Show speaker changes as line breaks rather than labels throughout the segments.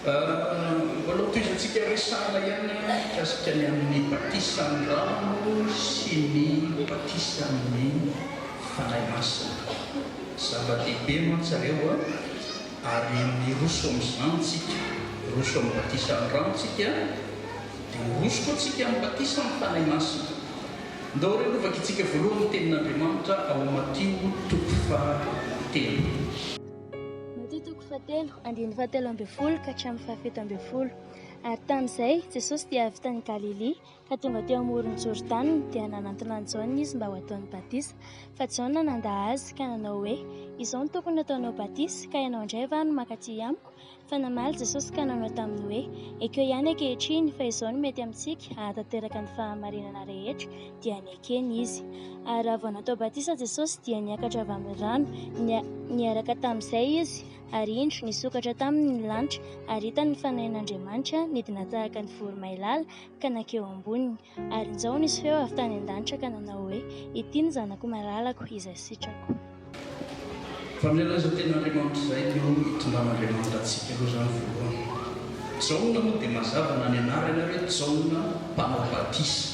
Mbola hotohizantsika resahana ihany mikasika ny amin'ny batisan-drano sy ny batisan'ny Fanahy Masina. Zava-dehibe mantsy ireo a! Ary miroso amin'izany tsika, miroso amin'ny batisan'ny rano tsika, dia miroso koa tsika amin'ny batisan'ny Fanahy Masina. Ndao re aloha vakitsika voalohany ny Tenin'Andriamanitra ao Matio toko fahatelo. Matio toko
fahatelo, andininy fahatelo ambin'ny folo ka hatramin'ny fahafito ambin'ny folo. Ary tamin'izay, Jesosy dia avy tany Galilia, Ka tonga teo amoron'i Jordana, dia nanantona an'i Jaona izy mba ho ataony batisa. Fa Jaona nandà azy, ka nanao hoe, Izao no tokony hataonao batisa, ka ianao indray va no maka aty amiko? Fa namaly Jesosy ka nanao taminy hoe, Ekeo ihany ankehitriny, fa izao no mety amintsika, hahatanteraka ny fahamarinana rehetra. Dia nekeny izy. Ary raha vao natao batisa Jesosy, dia niakatra avy amin'ny rano. Niaraka tamin'izay izy, ary indro, nisokatra taminy ny lanitra, ary hitany ny fanahin'Andriamanitra nidina tahaka ny voromailala, ka nankeo amboniny. Ary injao nisy feo avy tany an-danitra ka nanao hoe, Ity ny Zanako malalako, izay sitrako.
Fa miala izao Tenin'Andriamanitra izay dia ho itondran'Andriamanitra antsika aloha izany voalohany. Jaona moa dia mazava na ny anarany ary hoe Jaona mpanao batisa.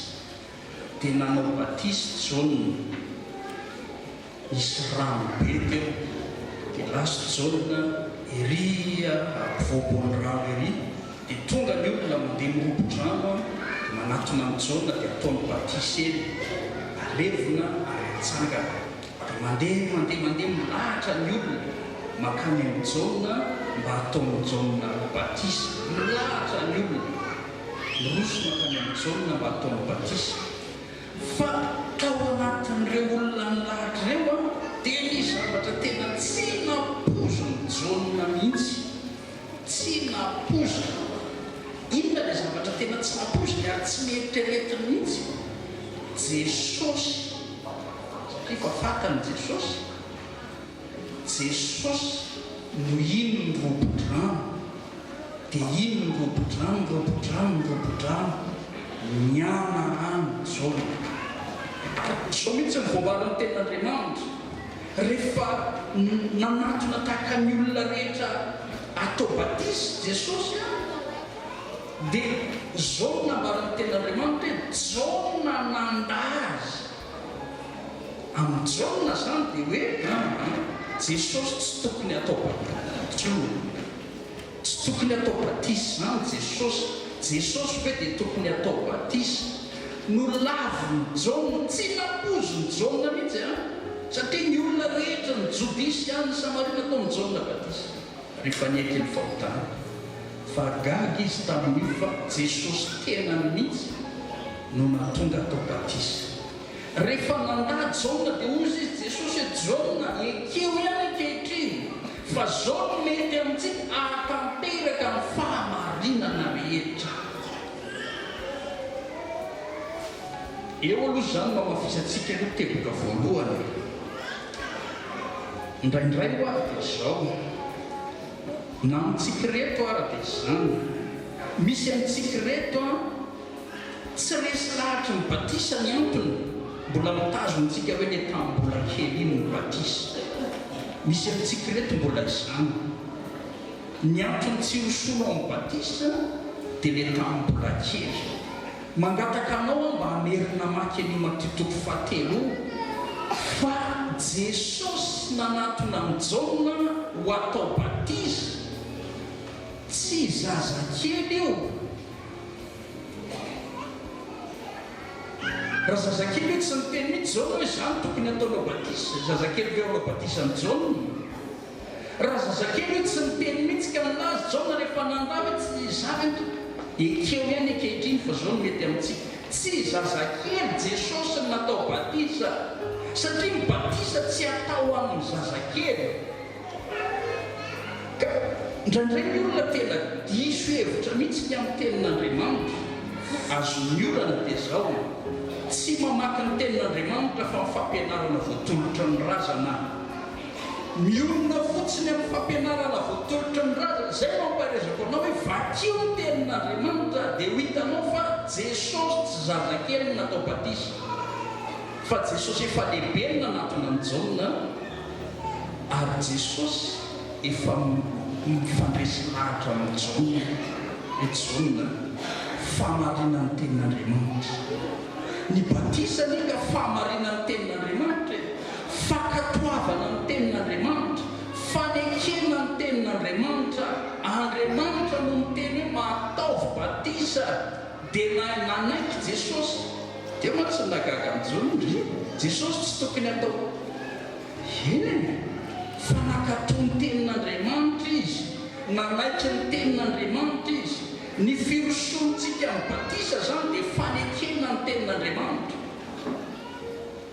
Dia nanao batisa i Jaona. Nisy rano be teo, dia lasa Jaona ery ampovoan'ny rano ery, dia tonga ny olona mandeha mirobo-drano dia manatona an'i Jaona dia ataony batisa eny, alevina ary atsangana. Dia mandeha, mandeha, mandeha milahatra ny olona mankany amin'i Jaona mba hataon'i Jaona batisa. Milahatra ny olona, miroso mankany amin'i Jaona mba hataony batisa. Fa tao anatin'ireo olona nilahatra ireo aho dia nisy zavatra tena tsy nampoizin'i Jaona mihitsy. Tsy nampoiziny aho. Inona ilay zavatra tena tsy nampoiziny ary tsy neritreretiny mihitsy? Jesosy. Satria efa fantany Jesosy. Jesosy no ino ny robo-drano de ino ny robo-drano ny robo-drano ny robo-drano ny ana any Jaona. Izao mihitsy no voavalin'ny tenin'Andriamanitra rehefa nanatona tahaka ny olona rehetra atao batisa Jesosy a de izao no nambaran'ny tenin'Andriamanitra hoe Jaona nanda azy. Amin'i Jaona izany dia hoe Jesosy tsy tokony hatao batisa i Jaona. Tsy tokony hatao batisa izany Jesosy. Jesosy ve dia tokony hatao batisa? Nolavin'i Jaona, tsy nampoizin'i Jaona mihitsy an! Satria ny olona rehetra, ny Jodia sy any Samaria nataon'i Jaona batisa rehefa nieky ny fahotany. Fa gaga izy tamin'io fa Jesosy tenany mihitsy no nahatonga atao batisa. Rehefa nandà Jaona dia hoy izy, Jesosy e Jaona, ekeo ihany ankehitriny fa izao no mety amintsika hahatanteraka ny fahamarinana rehetra. Eo aloha izany no hamafisantsika ireo teboka voalohany. Indraindray ho'a dia izao. Na amintsika ireto ara dia izany. Misy amintsika ireto an, tsy resy lahatry ny batisa ny antony, mbola mitazona antsika hoe le tamin'ny mbola kely iny ny batisa. Misy amintsika ireto mbola izany. Ny antony tsy ho soa amin'ny batisa dia le tamin'ny mbola kely. Mangataka anao aho mba hamerina hamaky an'io matitoko fahatelo io, Fa Jesosy nanatona an'i Jaona ho atao batiza, tsy zazakely io. Raha zazakely io tsy niteny mihitsy Jaona hoe, Izany tokony hataonao batiza. Zazakely ve ho hanao batiza an'i Jaona? Raha zazakely hoe tsy niteny mihitsy ka nilaza Jaona rehefa nandà hoe tsy izany aho tompoko. Ekeo ihany ankehitriny fa izao no mety amintsika. Tsy zazakely Jesosy no natao batisa satria ny batisa tsy atao ho an'ny zazakely. Ka indraindray ny olona tena diso hevitra mihitsy ny amin'ny tenin'Andriamanitra. Azon'ny olana dia izao, tsy mamaky ny tenin'Andriamanitra fa ny fampianarana voatolotra ny razana. Miorina fotsiny amin'ny fampianarana vao tolotry ny razana, izay no ampaherezako anao hoe vakio ny tenin'Andriamanitra dia ho hitanao fa Jesosy tsy zazakely no natao batisa fa Jesosy efa lehibe no nanatona an'i Jaona ary Jesosy efa mifandresy lahatra amin'i Jaona hoe Jaona fahamarinan'ny tenin'Andriamanitra. Ny batisa anie ka fahamarinan'ny tenin'Andriamanitra e! Fankatoavana ny Tenin'Andriamanitra, fanekena ny Tenin'Andriamanitra, Andriamanitra no niteny hoe mahataovy batisa dia nahay nanaiky Jesosy, teo mantsy ny nahagaga an'i Jona, ndry, Jesosy tsy tokony hatao Eny, fa nankatò ny Tenin'Andriamanitra Izy, nanaiky ny Tenin'Andriamanitra Izy, ny firosoantsika amin'ny batisa izany dia fanekena ny Tenin'Andriamanitra.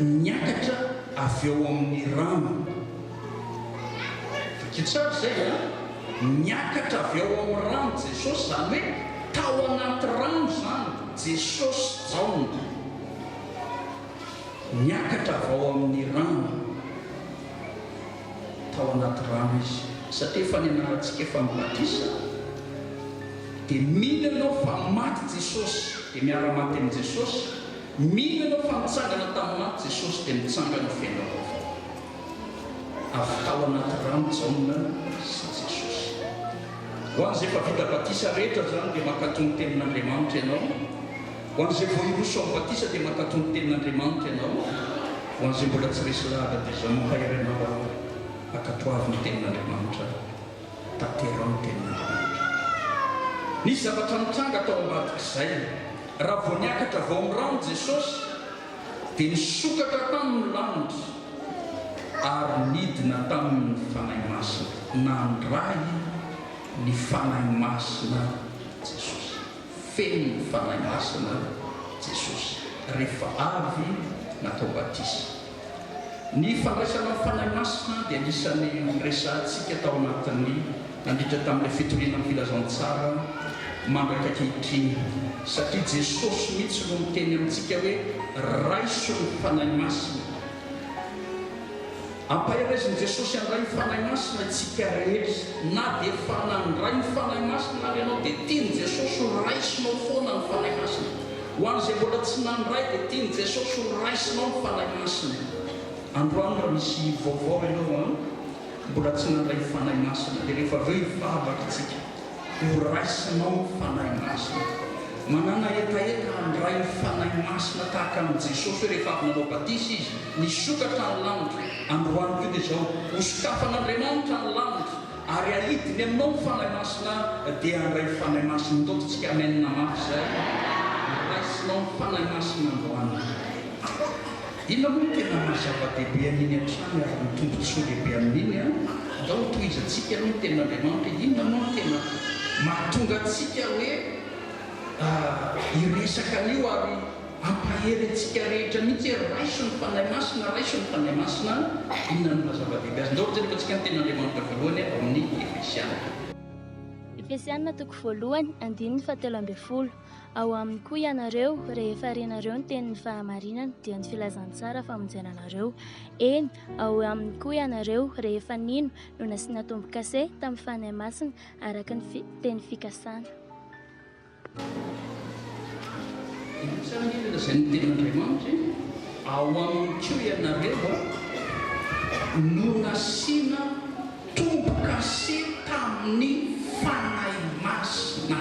niakatra avy ao amin'ny rano. Vakio tsara izay a! Niakatra avy ao amin'ny rano Jesosy, izany hoe tao anaty rano izany Jesosy sy Jaona. Niakatra avy ao amin'ny rano. Tao anaty rano Izy. Satria efa nianarantsika efa ny batisa, dia mino ianao fa maty Jesosy, dia miara-maty amin'i Jesosy, Mino ianao fa nitsangana tamin'ny maty Jesosy dia mitsangana ho fiainana vaovao. Avy tao anaty rano Jaona sy Jesosy. Ho an'izay efa vita batisa rehetra izany dia mankatò ny tenin'Andriamanitra ianao. Ho an'izay vao hiroso amin'ny batisa dia mankatò ny tenin'Andriamanitra ianao. Ho an'izay mbola tsy resy lahatra dia izao mampahery anao aho, ankatoavy ny tenin'Andriamanitra. Tanterao ny teninao rehetra. Nisy zavatra nitranga tao ambadik'izay. Raha vao niakatra vao amin'ny rano Jesosy, dia nisokatra taminy ny lanitra ary nidina taminy ny Fanahy Masina. Nandray ny Fanahy Masina Jesosy. Feno ny Fanahy Masina Jesosy rehefa avy natao batisa. Ny fandraisana ny Fanahy Masina dia anisan'ny noresahantsika tao anatin'ny nandritra tamin'ilay fitoriana ny filazantsara mandraka ankehitriny, satria Jesosy mihitsy no miteny amintsika hoe raiso ny Fanahy Masina. Ampahereziny Jesosy handray ny Fanahy Masina isika rehetra. Na dia efa nandray ny Fanahy Masina ary ianao dia tian'i Jesosy ho raisinao foana ny Fanahy Masina. Ho an'izay mbola tsy nandray dia tian'i Jesosy ho raisinao ny Fanahy Masina. Androany raha misy vaovao ianao an, mbola tsy nandray ny Fanahy Masina dia rehefa avy eo hivavaka isika ho raisinao ny Fanahy Masina. Manana hetaheta handray ny Fanahy Masina tahaka an'i Jesosy hoe rehefa avy nanao batisa Izy, nisokatra ny lanitra. Androany koa dia izao, hosokafan'Andriamanitra ny lanitra. Ary ahidiny aminao ny Fanahy Masina dia handray ny Fanahy Masina Ntaofintsika Amen mafy izay noraisinao ny Fanahy Masina androany Inona moa no tena maha zava-dehibe an'iny hatrany ary ny tombotsoa lehibe amin'iny an? Ndao ho tohizantsika aloha ny Tenin'Andriamanitra Inona moa no tena mahatonga antsika hoe hiresaka an'io ary Ampahery antsika rehetra mihitsy hoe raiso ny Fanahy Masina, raiso ny Fanahy Masina. Inona no maha-zava-dehibe azy? Ndao hojereko antsika ny Tenin'Andriamanitra voalohany ao amin'ny
Efesiana. Efesiana toko voalohany, andininy fahatelo ambin'ny folo, Ao aminy koa ianareo, rehefa renareo ny tenin'ny fahamarinana, dia ny filazantsara famonjena anareo. Eny, ao aminy koa ianareo, rehefa nino, no nasiana tombo-kase tamin'ny Fanahy Masina, araka ny fi, teny fikasana.
Inona izany anie ilay lazain'ny Tenin'Andriamanitra hoe, Ao aminy koa ianareo no nasiana tombo-kase tamin'ny Fanahy Masina.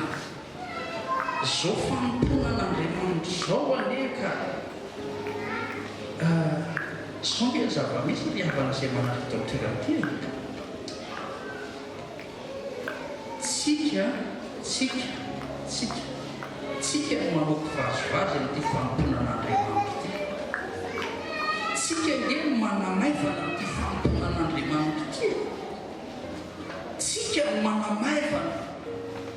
Izao fanompoana an'Andriamanitra izao anie ka, izao anie ny zava-misy ry havana izay manaraka ity aoterana ity e. Tsika, tsika, tsika, tsika no maloto vazivazy amin'ity fanompoana an'Andriamanitra ity. Tsika ange no manamaivana amin'ity fanompoana an'Andriamanitra ity e. Tsika no manamaivana,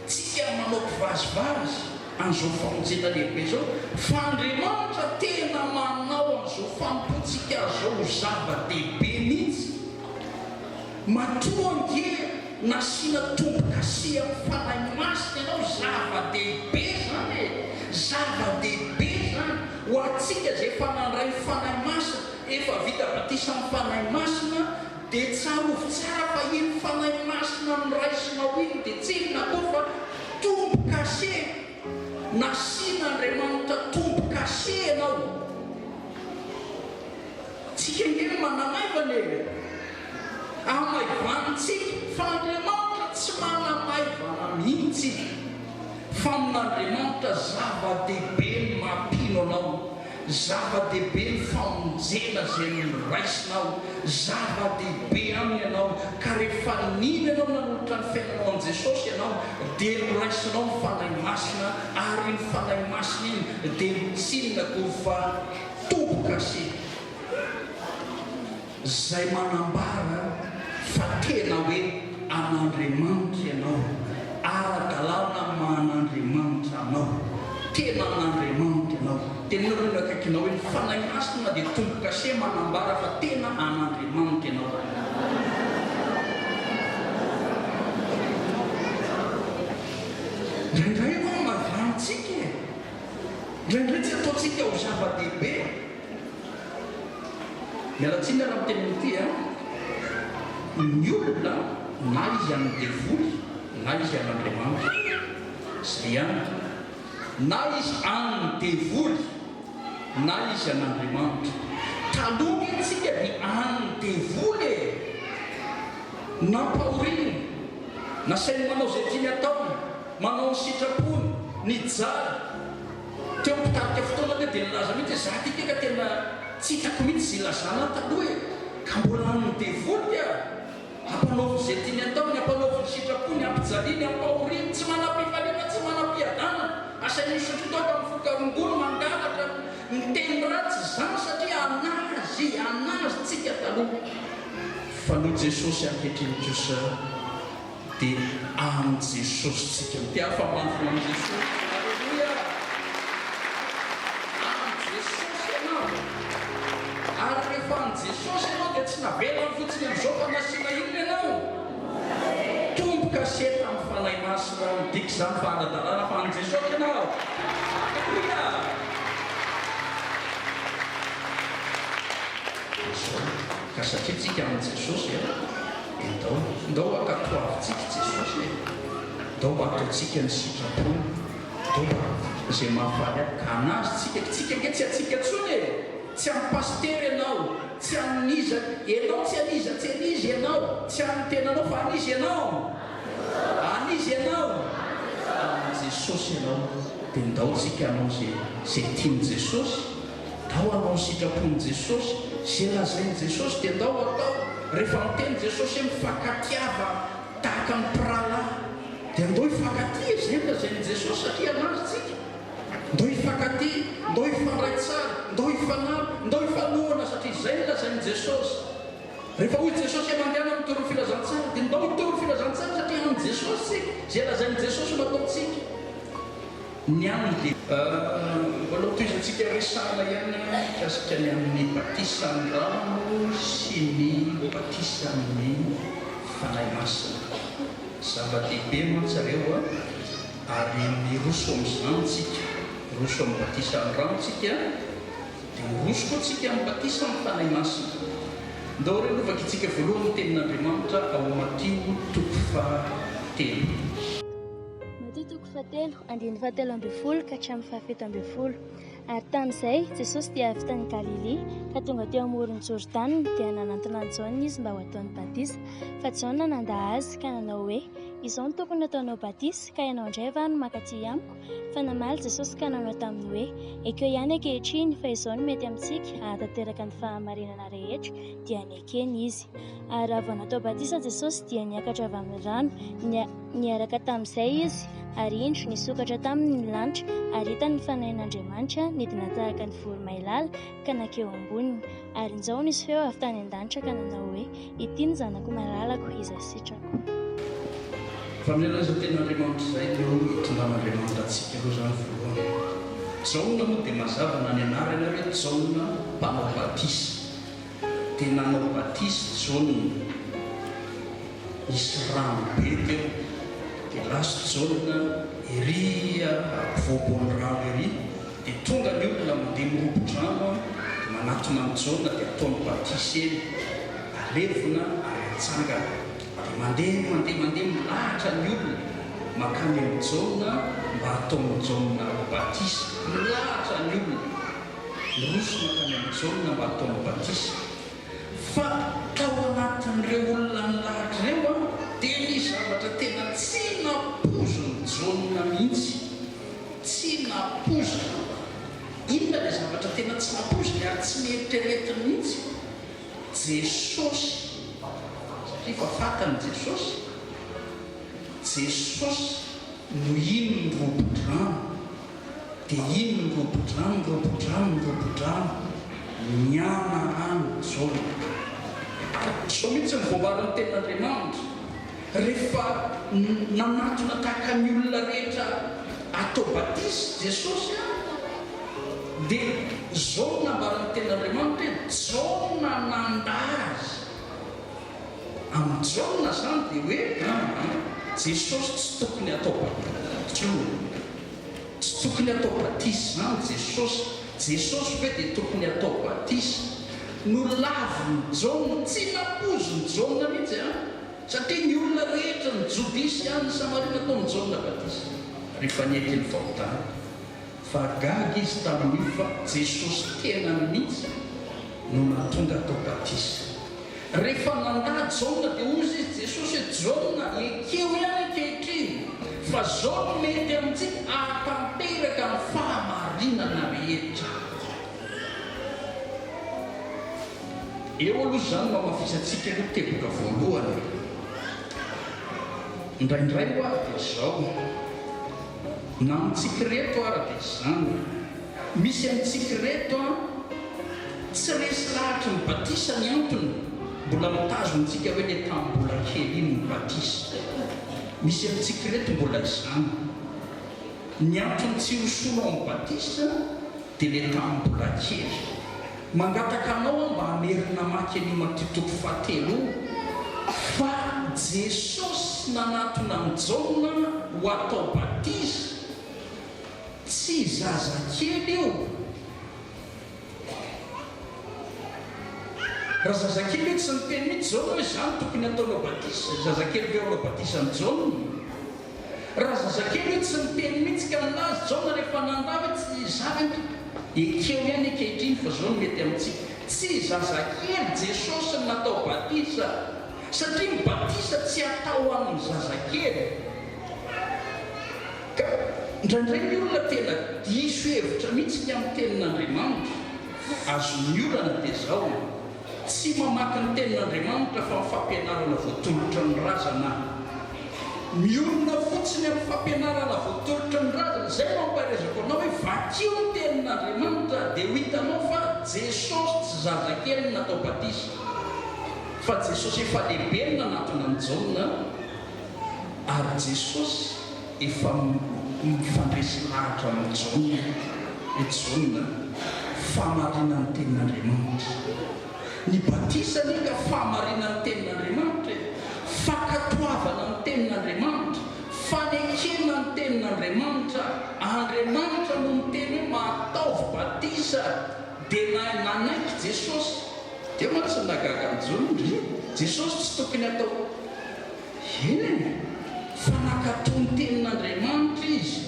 tsika no maloto vazivazy an'izao famonjena lehibe izao, fa Andriamanitra tena manao an'izao fanompoantsika azy izao ho zava-dehibe mihitsy. Matoa ange nasiana tombokasy amin'ny Fanahy Masina ianao, zava-dehibe izany e! Zava-dehibe izany! Ho antsika izay efa nandray ny Fanahy Masina, efa vita batisa amin'ny Fanahy Masina, dia tsarovy tsara fa iny Fanahy Masina noraisinao iny dia tsy inona koa fa tombokase! Nasian'Andriamanitra tombokase ianao. Tsika ange no manamaivana e! Amaivantsika fa Andriamanitra tsy manamaivana mihitsy. Famin'Andriamanitra zava-dehibe ny maha-mpino anao, zava-dehibe ny famonjena izay noraisinao, zava-dehibe Aminy ianao, ka rehefa nino ianao nanolotra ny fiainanao an'i Jesosy ianao dia noraisinao ny Fanahy Masina ary iny Fanahy Masina iny dia notsinina koa fa toboka sy Izay manambara fa tena hoe an'Andriamanitra ianao, ara-dalàna amin'ny maha an'Andriamanitra anao, tena an'Andriamanitra ianao. Teneno aloha ny eo akaikinao hoe, Ny Fanahy Masina dia tombo-kase manambara fa tena an'Andriamanitra ianao. Miala tsiny raha miteny an'ity a! Ny olona na izy an'ny devoly na izy an'Andriamanitra. Zay ihany. Na izy an'ny devoly na izy an'Andriamanitra. Taloha ny antsika dia an'ny devoly e! Nampahoriny, nasainy manao izay tiany ataony, manao ny sitrapony, nijaly. Teo am pitarika fotoana anie dia nilaza mihitsy hoe za ty ke ka tena tsy hitako mihitsy izay ilazana ahy taloha e! ka mbola amin ny devoly aho! ampanaoviny izay tiany ataony, ampanaoviny sitrapony, ampijaliany, ampahoriany, tsy manam pifaliana, tsy manam piadanana, asainy misotro toaka am voka rongony, mangalatra, miteny ratsy izany satria anazy, anazy tsika taloha! fa noho Jesosy ankehitriny kosa. Dia amin'i Jesosy tsika no te afa-mafy ho an'i Jesosy. Aleloia! Amin'i Jesosy ianao. Ary rehefa amin'i Jesosy ianao dia tsy navelany fotsiny amin'izao fa nasiana inona ianao? Tombo kaseta amin'ny Fanahy Masina aho. Midika izany fa ara-dalàna fa an'i Jesosy ianao. Aleloia! Dia izao, ka satria tsika amin'i Jesosy, Ndao, ndao ankatoavintsika i Jesosy e! Ndao mba ataontsika ny sitrapony, ndao mba ataontsika izay mahafaly ahy ka hanazo tsika, ka tsika ange tsy hatsika tsony e! Tsy an'i Pasitera ianao, tsy an'iza, ianao tsy an'iza, tsy an'iza ianao, tsy an'ny tenanao fa an'iza ianao? An'iza ianao? An'i Jesosy ianao, dia ndao tsika hanao izay, izay tian'i Jesosy. Ndao hanao ny sitrapon'i Jesosy, izay lazain'i Jesosy dia ndao atao. Rehefa miteny Jesosy hoe mifankatia fa tahaka ny mpirahalahy, dia ndao hifankatia, izay no lazain'i Jesosy satria hanaja antsika. Ndao hifankatia, ndao hifandray tsara, ndao hifanampy, ndao hifanohana satria izay no lazain'i Jesosy. Rehefa hoy Jesosy hoe mandehana mitory ny filazantsara, dia ndao hitory ny filazantsara satria an'i Jesosy isika, izay lazain'i Jesosy no ataontsika. ny an'ny dia. Mbola hotohizantsika hoe sahala ihany ny an'ny mikasika ny amin'ny batisan-drano sy ny batisan'ny Fanahy Masina. Zava-dehibe mantsy ireo ary miroso amin'izany tsika. Miroso amin'ny batisan-drano tsika dia miroso koa tsika amin'ny batisan'ny Fanahy Masina. Ndao re no vakitsika voalohany ny tenin'Andriamanitra ao Matio toko faha telo. Matio toko
fahatelo, andininy fahatelo ambin'ny folo ka hatramin'ny fahafito ambin'ny folo. Ary tamin'izay, Jesosy dia avy tany Galilia, ka tonga teo amoron'i Jordana, dia nanantona an'i Jaona izy mba ho ataony batisa. Fa Jaona nandà azy, ka nanao hoe, Izao no tokony hataonao batisa, ka ianao indray va no maka aty amiko? Fa namaly Jesosy ka nanao taminy hoe, Ekeo ihany ankehitriny, fa izao no mety amintsika, hahatanteraka ny fahamarinana rehetra. Dia nekeny izy. Ary raha vao natao batisa Jesosy, dia niakatra avy amin'ny rano. Niaraka tamin'izay izy, ary indro nisokatra taminy ny lanitra, ary hitany ny fanahin'Andriamanitra nidina tahaka ny voromailala ka nankeo amboniny. Ary injao nisy feo avy tany an-danitra ka nanao hoe, Ity ny Zanako malalako, izay sitrako.
Fa milaza teny Andriamanitra izay dia ho itondran'Andriamanitra antsika aloha izany voalohany. Jaona moa dia mazava na ny anarany ary hoe Jaona mpanao batisa. dia nanao batisa i Jaona, nisy rano be teo, dia lasa Jaona ery ampovoampoan'ny rano ery, dia tonga ny olona mandeha mirobo-drano dia manatona an'i Jaona dia ataony batisa eny, alevina ary atsangana, dia mandeha mandeha mandeha milahatra ny olona mankany amin'i Jaona mba hataon'i Jaona batisa, milahatra ny olona. Nosy mankany amin'i Jaona mba hataony batisa. Fa tao anatin'ireo olona nilahatra ireo dia nisy zavatra tena tsy nampoizin'i Jaona mihitsy. Tsy nampoiziny aho. Inona ilay zavatra tena tsy nampoiziny ary tsy neritreretiny mihitsy? Jesosy. Satria efa fantany Jesosy. Jesosy no iny mirobo-drano. Dia iny ny robo-drano, ny robo-drano, ny robo-drano, nianaran'i Jaona. Izao mihitsy no voambaran'ny Tenin'Andriamanitra, Rehefa nanatona tahaka ny olona rehetra atao batisa Jesosy, dia izao no nambaran'ny Tenin'Andriamanitra hoe, Jaona nanda azy. Amin'i Jaona izany dia hoe, Jesosy tsy tokony hatao batisa intsony. Tsy tokony atao batisa izany Jesosy. Jesosy ve dia tokony atao batisa? Nolavin'i Jaona. Tsy nampoizin'i Jaona mihitsy an! Satria ny olona rehetra, ny Jodia sy any Samaria nataon'i Jaona batisa rehefa nety ny fahotany. Fa gaga izy tamin'io fa Jesosy tenany mihitsy no nahatonga atao batisa. Rehefa nandà Jaona dia hoy izy, Jesosy e Jaona, ekeo ihany ankehitriny, fa izao no mety amintsika, hahatanteraka ny fahamarinana rehetra. Eo aloha izany no hamafisantsika aloha teboka voalohany e. Indraindray ho'a ary dia izao, na amintsika ireto ara dia izany. Misy amintsika ireto an! Tsy resy lahatry ny batisa ny antony, mbola mitazona antsika hoe le tamin'ny mbola kely iny ny batisa. Misy amintsika ireto mbola izany. Ny antony tsy ho sono amin'ny batisa dia le tamin'ny mbola kely. Mangataka anao aho mba hamery namaky an'io Matio toko fahatelo io fa Jesosy nanatona an'i Jaona ho atao batisa. Tsy zazakely io. Raha zazakely io tsy niteny mihitsy Jaona hoe zany tokony ataonao batisa, zazakely veo anao batisa an'i Jaona? Raha zazakely io tsy niteny mihitsy ka nilaza Jaona rehefa nandà hoe tsy izaho ve no ekeo ihany ankehitriny fa zao no mety amintsika. Tsy zazakely Jesosy natao batisa satria ny batisa tsy atao amin'ny zazakely. Ka indraindray ny olona tena diso hevitra mihitsy ny amin'ny tenin'Andriamanitra. Azon'ny olana dia zao, tsy mamaky ny tenin'Andriamanitra fa ny fampianarana voatolotra ny razana. Mionona fotsiny amin'ny fampianarana voatolotra ny razana, zay no ampaherezako anao hoe vakio ny tenin'Andriamanitra dia ho hitanao fa Jesosy tsy zazakely no natao batisa fa Jesosy efa lehibe no nanatona an'i Jaona. ary Jesosy efa mifandresy lahatra amin'ny Jaona hoe Jaona fahamarinan'ny tenin'Andriamanitra. Ny batisa anie ka fahamarinan'ny tenin'Andriamanitra e! Fankatoavana ny tenin'Andriamanitra, fanekena ny tenin'Andriamanitra, Andriamanitra no miteny hoe mahataovy batisa dia nahay nanaiky Jesosy, dia mantsy nahagaga an'i Jaona, ry Jesosy tsy tokony hatao. Eny, fa nankatò ny Tenin'Andriamanitra izy,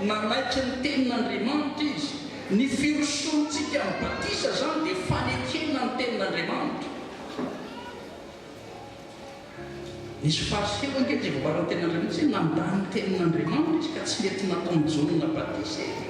nanaiky ny Tenin'Andriamanitra izy. Ny firosoantsika amin'ny batisa izany dia fanekena ny Tenin'Andriamanitra. Nisy Fariseo ange izay voavaran'ny Tenin'Andriamanitra satria nandà ny Tenin'Andriamanitra izy ka tsy nety nataon'i Jaona batisa izy.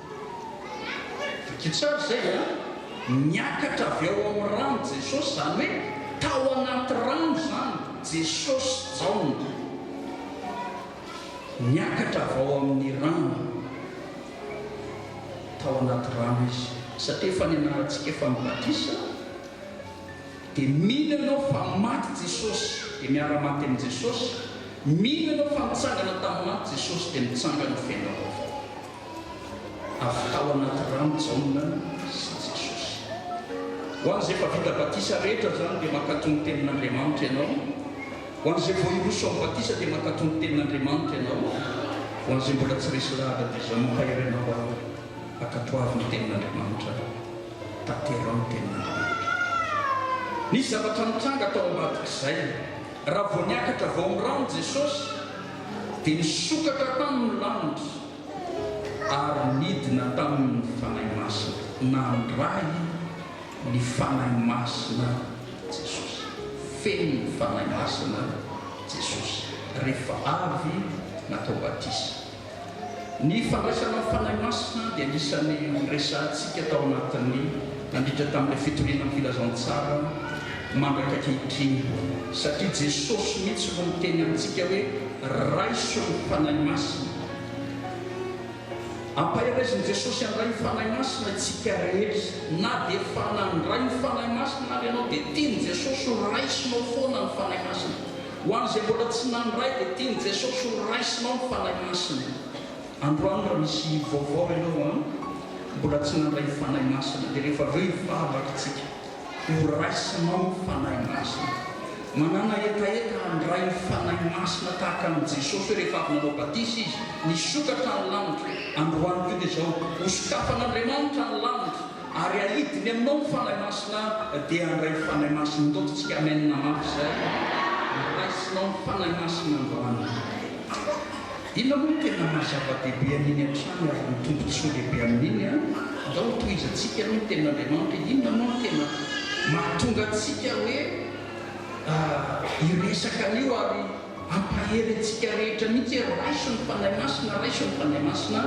Vakio tsara izay a! Niakatra avy ao amin'ny rano Jesosy, izany hoe tao anaty rano izany Jesosy sy Jaona. Niakatra avy ao amin'ny rano, tao anaty rano Izy. Satria efa nianarantsika efa ny batisa, dia mino ianao fa maty Jesosy, dia miara-maty amin'i Jesosy, mino ianao fa nitsangana tamin'ny maty Jesosy, dia mitsangana feno avy ao. Avy tao anaty rano Jaona sy Jesosy. Ho an'izay efa vita batisa rehetra izany dia mankatò ny tenin'Andriamanitra ianao. Ho an'izay vao hiroso amin'ny batisa dia mankatò ny tenin'Andriamanitra ianao. Ho an'izay mbola tsy resy lahatra dia izao nohairinao aho hoe ankatoavy ny tenin'Andriamanitra aho. Tanteraho ny tenin'Andriamanitra. Nisy zavatra nitranga tao ambadik'izay. Raha vao niakatra vao ny rano Jesosy dia nisokatra tany ny lanitra ary nidina taminy ny Fanahy Masina. Nandray ny Fanahy Masina Jesosy. Feno ny Fanahy Masina Jesosy rehefa avy natao batisa. Ny fandraisana ny Fanahy Masina dia anisan'ny noresahantsika tao anatin'ny nandritra tamin'ilay fitoriana ny Filazantsara mandraka ankehitriny, satria Jesosy mihitsy no miteny amintsika hoe, Raiso ny Fanahy Masina. Ampahereziny Jesosy handray ny Fanahy Masina isika rehetra. Na dia efa nandray ny Fanahy Masina ary ianao dia tian'i Jesosy ho raisinao foana ny Fanahy Masina. Ho an'izay mbola tsy nandray dia tian'i Jesosy ho raisinao ny Fanahy Masina. Androany raha misy vaovao ianao an, mbola tsy nandray ny Fanahy Masina dia rehefa avy eo hivavaka tsika ho raisinao ny Fanahy Masina. Manana hetaheta handray ny Fanahy Masina tahaka an'i Jesosy hoe rehefa avy nanao batisa Izy, nisokatra ny lanitra. Androany koa dia izao, hosokafan'Andriamanitra ny lanitra. Ary ahidiny aminao ny Fanahy Masina dia handray ny Fanahy Masina Ntaoto tsika Amen mafy zay Noraisinao ny Fanahy Masina androany Inona moa no tena maha zava dehibe an'iny hatrany ary ny tombotsoa lehibe amin'iny an Ndao ho tohizatsika aloha ny tenin' Andriamanitra Inona moa no tena mahatonga antsika hoe hiresaka an'io ary Hampahery antsika rehetra mihitsy hoe raiso ny Fanahy Masina, raiso ny Fanahy Masina.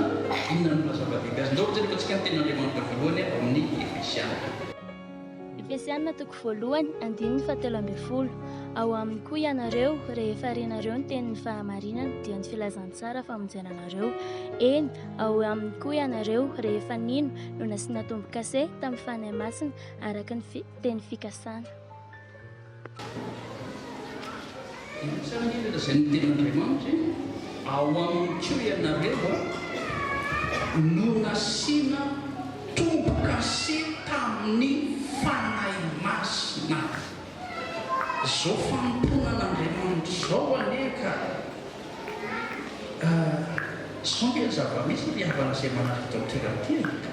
Inona no maha-zava-dehibe azy? Ndao hojereko antsika ny Tenin'Andriamanitra voalohany ao amin'ny
Efesiana. Efesiana toko voalohany, andininy fahatelo ambin'ny folo. Ao aminy koa ianareo, rehefa renareo ny tenin'ny fahamarinana, dia ny filazantsara famonjena anareo. Eny, ao aminy koa ianareo, rehefa nino, no nasiana tombo-kase tamin'ny Fanahy Masina, araka ny teny fikasana.
Inona ary ilay lazain'ny Tenin'Andriamanitra hoe, Ao aminy koa ianareo no nasiana tombo-kase tamin'ny Fanahy Masina. Izao fanompoana an'Andriamanitra izao anie ka! Izao anie ny zava-misy ry havana izay manaraka ity toerana ity e!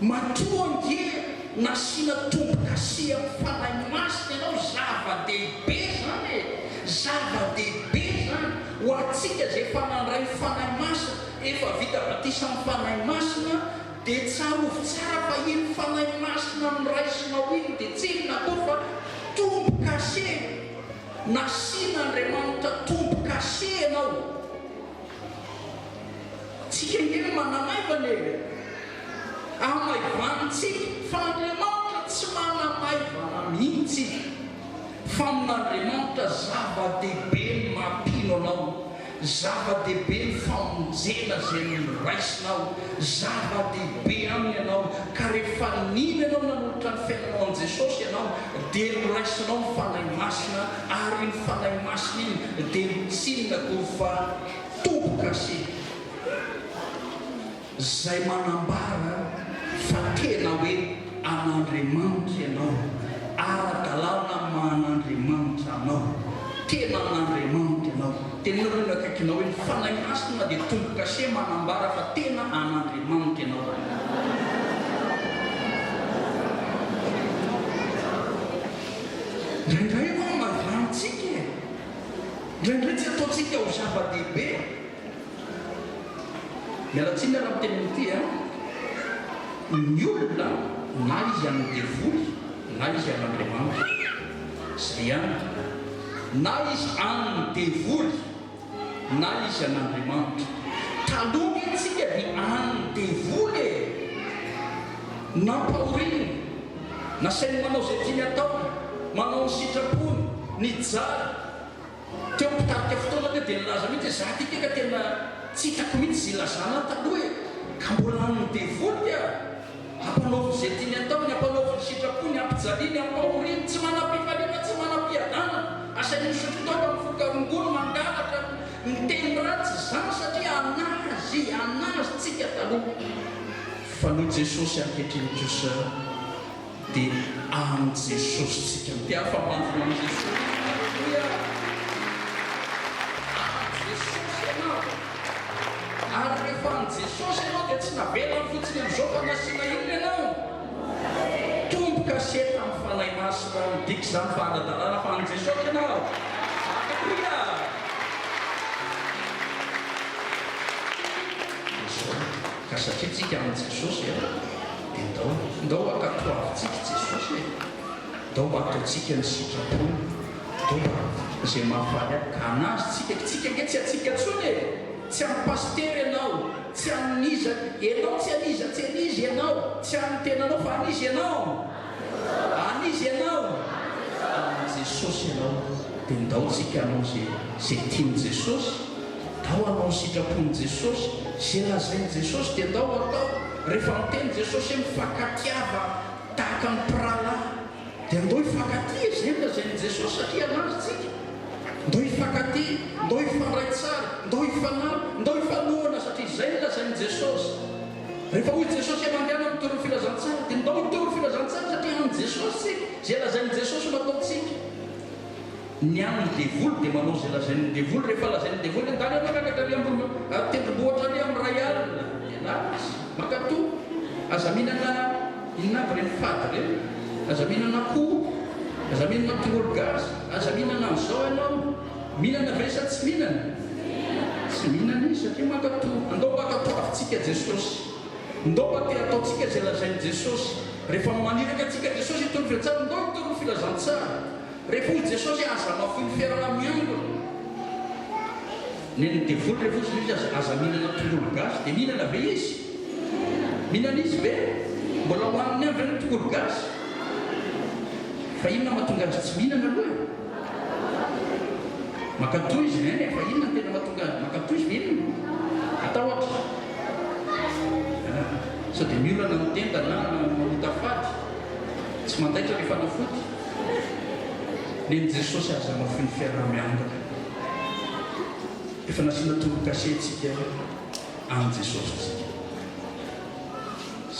Matoa ange nasiana tombokasy amin'ny Fanahy Masina ianao, zava-dehibe izany e! Zava-dehibe izany! Ho antsika izay efa nandray ny Fanahy Masina, efa vita batisa amin'ny Fanahy Masina, dia tsarovy tsara fa iny Fanahy Masina noraisinao iny dia tsy inona akory fa tombokase! Nasian'Andriamanitra tombokase ianao. Tsika nge manamaivana e! Amaivan tsika fa Andriamanitra tsy manamaivana mihitsy! Famin'Andriamanitra zava-dehibe ny maha-mpino anao, zava-dehibe ny famonjena izay noraisinao, zava-dehibe Aminy ianao, ka rehefa nino ianao nanolotra ny fiainanao an'i Jesosy ianao dia noraisinao ny Fanahy Masina ary iny Fanahy Masina iny dia notsinina koa fa Toko gasy izay manambara fa tena hoe an'Andriamanitra ianao, ara-dalàna amin'ny maha an'Andriamanitra anao, tena an'Andriamanitra ianao. Teneno aloha ny akaikinao hoe ny Fanahy Masina dia toko gasy manambara fa tena an'Andriamanitra ianao. Indraindray tsy ataontsika ho zava-dehibe, miala tsiny ary amin'ny teny amin'ity an, ny olona na izy an'ny devoly na izy an'Andriamanitra, izay ihany, na izy an'ny devoly na izy an'Andriamanitra. Taloha ve tsika dia an'ny devoly e! Nampahoriny, nasainy manao izay tiany atao, manao ny sitrapony, nijaly, Teo am-pitarika fotoana teo dia nilaza mihitsy hoe za ty ke ka tena tsy hitako mihitsy izay ilazana ahy taloha e! ka mbola amin'ny devoly aho! ampanaoviny izay tiany ataony, ampanaoviny sitrapony, ampijaliany, ampahoriany, tsy manam-pifaliana, tsy manam-piadanana, asainy misotro taoka, mivoka rongony, mangalatra, miteny ratsy, izany satria an'azy, an'azy, tsika taloha fa noho Jesosy ankehitriny kosa. Dia amin'i Jesosy tsika no. Dia afa-mafy ho an'i Jesosy isika. Aleloia! Ary Jesosy ianao. Ary rehefa an'i Jesosy ianao dia tsy navelany fotsiny amin'izao fa nasiana inona ianao? Tombo kase tamin'ny Fanahy Masina. Midika izany fa ara-dalàna fa an'i Jesosy ianao. Aleloia! Dia izao, ka satria tsika amin'i Jesosy dia. Dia ndao, ndao mba katoavintsika i Jesosy e! Ndao mba ataontsika ny sitrapony, ndao mba ataontsika izay mahafaly ahy ka anazy tsika, tsika ange tsy antsika tsony e! Tsy an'ny pasitera ianao, tsy an'iza ianao, tsy an'iza, tsy an'iza ianao, tsy an'ny tenanao fa an'iza ianao? An'iza ianao? An'i Jesosy ianao, dia ndao tsika hanao izay, izay tian'i Jesosy. Atao hanao ny sitrapon'i Jesosy. Izay lazain'i Jesosy dia andao hatao. Rehefa miteny Jesosy hoe mifankatia tahaka ny mpirahalahy, dia andao hifankatia. Izay no lazain'i Jesosy satria hanaja antsika. Andao hifankatia, andao hifandray tsara, andao hifanampy, andao hifanohana satria izay no lazain'i Jesosy. Rehefa hoy Jesosy hoe mandehana mitory ny filazantsara, dia andao hitory ny filazantsara satria an'i Jesosy isika. Izay lazain'i Jesosy no ataontsika. Ny an ny devoly dia manao izay lazain ny devoly rehefa lazain ny devoly hoe ndany ianao miakatra ary ambony ary tendrombohitra ary am ray alina ianao izy mankato aza mihinana inona aby ireny fady ireny aza mihinana akoho aza mihinana tongolo gasy aza mihinana an izao ianao mihinana ve sa tsy mihinana tsy mihinana izy satria mankato ndao mba katoavintsika jesosy ndao mba te hataontsika izay lazain jesosy rehefa maniraka antsika jesosy hitondra filatsahan ndao hitaona ny filazantsara Rehefa hoy Jesosy hoe aza mafiloha ferana miangona. Nen'ny devoly rehefa hoy Jesosy aza aza mihinana tongolo gasy dia mihinana ve izy? Mihinana izy ve? Mbola hohaniny ihany ve ny tongolo gasy? Fa inona mahatonga azy tsy mihinana aloha e? Mankatoa izy hein e, fa inona no tena mahatonga azy mankatoa izy ve inona? Matahotra? Ah, sao dia miolana ny tenda na mahota fady? Tsy mandaitra ny fanafody? Neny Jesosy aza mafy ny fiaraha-miangona. Efa nasiana tonon-kase tsika any Jesosy tsika.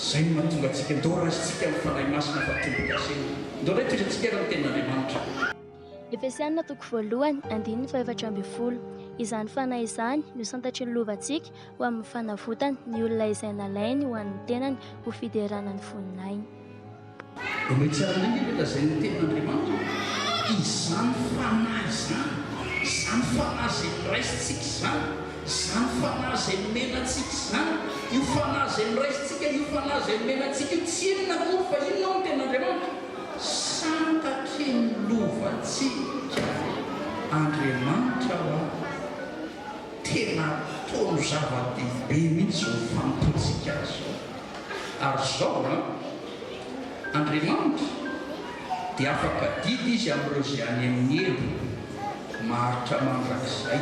Zay no mahatonga antsika ndao raisintsika ny Fanahy Masina fa tombon-kase. Ndao raikitrintsika ary ny Tenin'Andriamanitra. Efesiana
toko voalohany andininy fahefatra ambin'ny folo Izany Fanahy izany no santatry ny lovantsika ho amin'ny fanavotany ny olona izay nalainy ho an'ny tenany ho fiderana ny voninahiny.
Ireo tsy ara-nify ve lazain'ny tenin'Andriamanitra hoe izany fanahy izany, izany fanahy izay noraisintsika izany, izany fanahy izay nomena antsika izany, io fanahy izay noraisintsika, io fanahy izay nomena antsika io, tsy inona akory fa inona hoy ny tenin'Andriamanitra? Santatry ny lovantsika Andriamanitra ho'a. Tena ataony zava-dehibe mihitsy izao fanompoantsika Azy izao. Ary izao an, Andriamanitra dia afaka adida Izy amin'ireo izay any amin'ny helo, maharitra mandrakizay.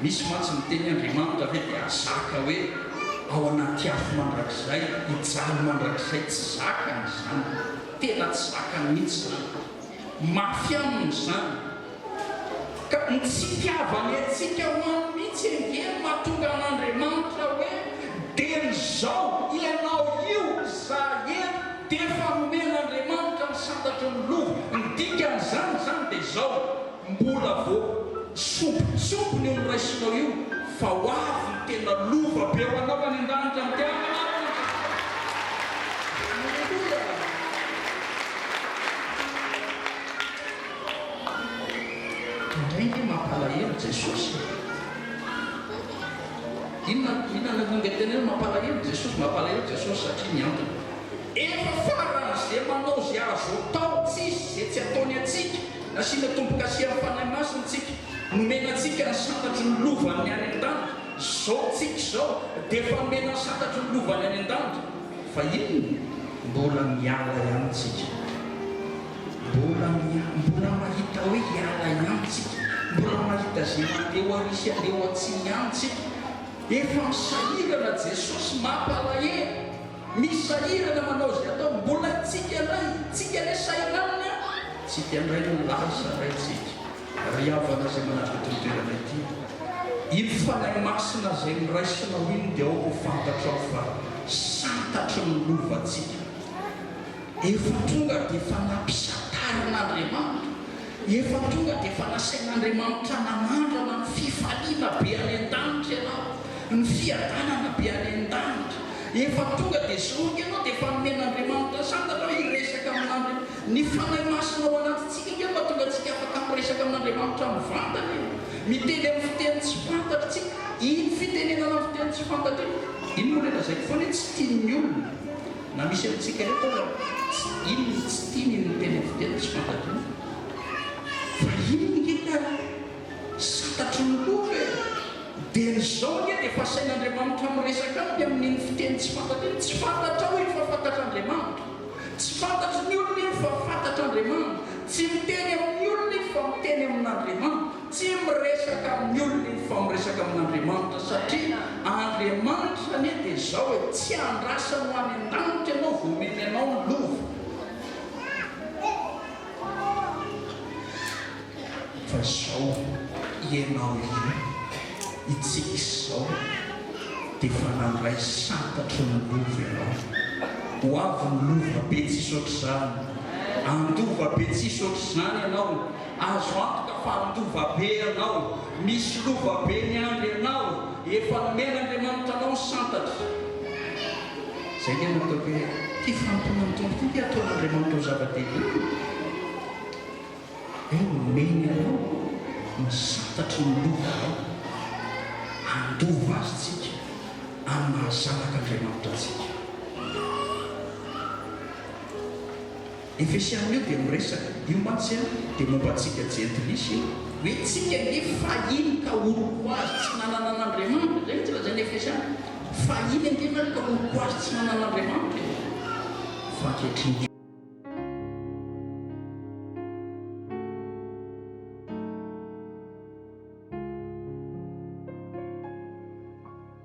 Misy mantsy miteny hoe Andriamanitra ve dia zaka hoe ao anaty afo mandrakizay, hijaly mandrakizay? Tsy zakany izany. Tena tsy zakany mihitsy izany. Mafy aminy izany. Ka ny tsy itiavany antsika ho any mihitsy ange no mahatonga an'Andriamanitra hoe, dia ny zao, ianao io, izaho eto, dia efa nomen'Andriamanitra ny santatry ny lova, ny dikan'izany izany dia izao, mbola vao sompitsompiny io noraisinao io, fa ho avy ny tena lova be ho anao any an-danitra amin'ny mpiambina ary ny Andriamanitra. Aleloia. Indray ve mampalahelo Jesosy e! Inona inona no ingatenay hoe mampalahelo Jesosy? Mampalahelo Jesosy satria ny antony. Efa farany ze manao ze azo atao tsisy ze tsy ataony atsika nasiana tombokasian'ny Fanahy Masina tsika nomena antsika ny sanatry ny lovany any andanitra zao tsika izao defa nomena ny sanatry ny lovany any andanitra fa inona mbola miala ihany tsika Mbola miala, mbola mahita hoe hiala ihany tsika, mbola mahita ze mandeha ho ary sy handeha ho atsy ihany tsika. Efa misahirana Jesosy mampalahelo, misahirana manao ze atao, mbola tsika ndray, tsika anie sahirana an! Tsika ndray no lasa ndray tsika. Ry havana ze manatitra ity toerana ity, iny Fanahy Masina zay noraisinao iny de aoka ho fantatrao fa santatry ny lovantsika. Efa tonga dia efa nampisatarin'Andriamanitra, efa tonga dia efa nasain'Andriamanitra nanandrana ny fifaliana be any an-danitra ianao, ny fiadanana be any an-danitra. Efa tonga dia zoroka ianao dia efa nomen'Andriamanitra sata anao hiresaka amin'Andria. Ny Fanahy Masina ao anatintsika ve no mahatonga antsika afaka miresaka amin'Andriamanitra mivantana io? Miteny amin'ny fiteny tsy fantatry tsika. Iny fitenenana amin'ny fiteny tsy fantatry iny, iny moa ilay lazaiko foana hoe tsy tian'ny olona. Na misy amintsika eto aza tsy iny ny tsy tiany ny miteny amin'ny fiteny tsy fantatr'iny fa iny nge ka santatry ny loka e! dia ny zao nge dia efa asain'Andriamanitra miresaka aminy amin'iny fiteny tsy fantatra iny, tsy fantatrao iny fa fantatr'Andriamanitra, tsy fantatry ny olona iny fa fantatr'Andriamanitra, tsy miteny amin'ny olona iny fa miteny amin'Andriamanitra. Tsy miresaka amin'ny olona izy fa miresaka amin'Andriamanitra satria Andriamanitra anie dia izao e, tsy andrasany ho any an-danitra ianao vao omeny anao ny lova fa izao ianao iray hitsika izao dia efa nandray santatry ny lova ianao. Ho avy ny lova be tsisy ohatr'izany, handova be tsisy ohatr'izany ianao. Azo antoka fa handova be ianao, misy lova be miandry ianao, efa nomen'Andriamanitra anao ny santatra. Izay nge no ataoko hoe ity fanompoana ny Tompo ity nge ataon'Andriamanitra ho zava-dehibe e! Hoe nomeny anao ny santatry ny lovanao, handova azy tsika amin'ny maha zanak'Andriamanitra antsika. Efesiana io dia miresaka, io mantsy an, dia momba antsika jentilisa io. Hoe tsika ange fahiny ka olo-koazy tsy nanana an'Andriamanitra, izay mihitsy lazain'ny Efesiana, fahiny ange ianareo ka olo-koazy tsy nanana an'Andriamanitra e! fa ankehitriny.